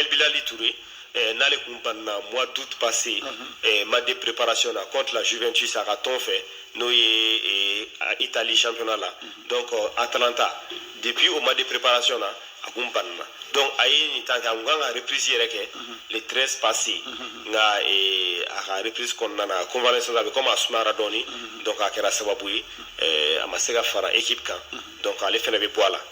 El Bilal Touré eh, n'ale kun banna mois d'août passé mm -hmm. eh, match de préparation na contre la Juventus a ka tɔn fɛ n'o ye eh, Italie championnat la mm -hmm. donc euh, Atalanta depuis o match de préparation na a kun banna donc a ye nin tan kɛ a kun kan ka reprise yɛrɛ kɛ mm -hmm. le 13 passé mm -hmm. nka eh, a ka reprise kɔnɔna na convalescence a bɛ komi a sumayara dɔɔni mm -hmm. donc a kɛra sababu ye eh, a ma se ka fara équipe kan mm -hmm. donc ale fana bɛ bɔ a la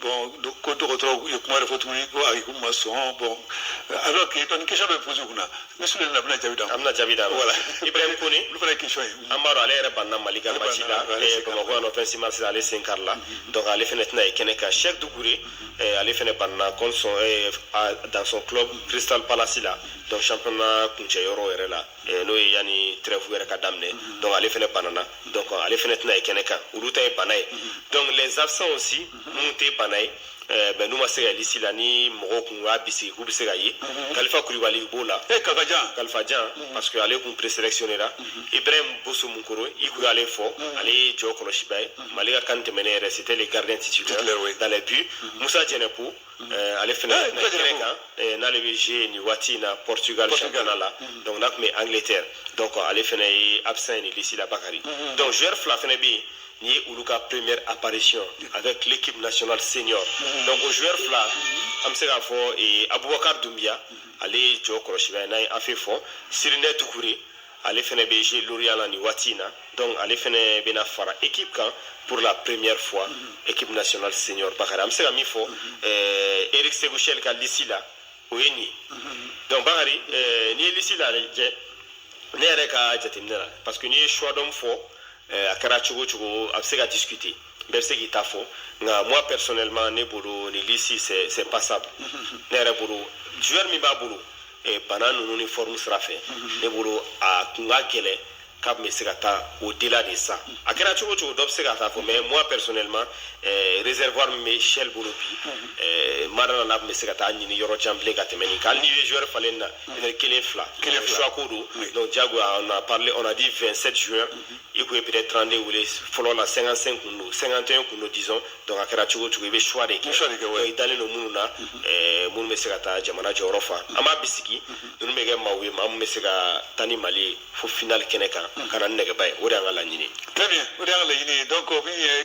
bon ko dɔgɔtɔrɔ ye kuma yɛrɛ fɔ tuguni ko ayi ko ma sɔn bon alors que dɔn question dɔ poser kunna ne sule na bɛna jaabi d'a ma an bɛna jaabi d'a ma voilà ibrahim kone olu fana ye question ye an b'a dɔn ale yɛrɛ banna mali ka match la bamakɔ yan nɔ fɛn si ma sisan ale sen karila donc ale fana tɛna ye kɛnɛ kan Cheick Doucouré ale fana banna contre son dans son club crystal palace la donc championnat kuncɛ yɔrɔ yɛrɛ la Eh, n'o ye yanni trêve yɛrɛ ka daminɛ mhm. donc ale fana banana mhm. donc ale fana tɛna ye kɛnɛ kan olu ta ye bana ye mhm. donc les absents aussi minnu tɛ bana ye eh, bɛn n'u ma se ka ye lisi la ni mɔgɔw kun y'a bisigi k'u bɛ se ka ye kalifa kulibali b'o la eh, kalifajan kalifajan parce que ale kun présélectionnéra ibrahim boso munkoro i kun y'ale fɔ ale ye jɔ kɔlɔsibaa ye mali ka CAN tɛmɛnen yɛrɛ c'était le gardien titulaire dans les buts musa jɛnɛpo Eh, ale fana eh, tun bɛ tɛmɛ kan eh, n'ale bɛ jouer nin waati in na Portugal championnat la mm-hmm. donc n'a tun bɛ Angleterre donc ale fana ye absent ye nin liste la Bakari mm-hmm. donc joueur fila fana bɛ yen nin ye olu ka première apparition mm-hmm. avec l'équipe nationale senior donc o joueur fila an bɛ se k'a fɔ Abubakar Dumbia ale ye jɔ kɔlɔsibaa ye n'an ye AFE fɔ Sirinɛ Dukure ale fɛnɛ bɛ jouer Lorient la nin waati in na donc ale fɛnɛ bɛna fara équipe kan pour la première fois mm -hmm. équipe nationale senior Bakari an bɛ se ka min fɔ mm -hmm. euh, Eric Sékou Chelle ka liste la o ye nin ye mm -hmm. donc Bakari euh, n'i ye liste la lajɛ ne yɛrɛ ka jateminɛ la parce que n'i ye choix d'hommes fɔ euh, a kɛra cogo cogo a bɛ se ka discuter bɛɛ bɛ se k'i ta fɔ nka moi personnellement ne bolo nin liste c'est c'est passable ne yɛrɛ bolo joueur min b'a bolo eh, bana ninnu ni forme sira fɛ ne bolo a kun ka gɛlɛn k'a bɛ se ka taa au-delà de ça a kɛra cogo cogo dɔ bɛ se k'a ta fɔ mais moi personnellement eh, réservoir min bɛ Chelle bolo bi eh, n ma da a la a bɛ se ka taa ɲini yɔrɔ jan bilen ka tɛmɛ nin kan hali n'i ye joueur falen na peut-être kelen fila Kelen fila. choix ko don Oui. donc diyagoya on a parlé on a dit 27 joueurs i kun ye peut-être 32 wele fɔlɔ la 55 kun don 51 kun don disons donc a kɛra cogo cogo i bɛ choix de kɛ i dalen don minnu na mhm. minnu bɛ se ka taa jamana jɔyɔrɔ fa an b'a bisigi mhm. ninnu bɛ kɛ maaw ye maa min bɛ se ka taa ni mali ye fo finali kɛnɛ kan mhm. ka na ni nɛgɛba ye o de y'an ka laɲini très bien o de y'an ka laɲini ye donc min ye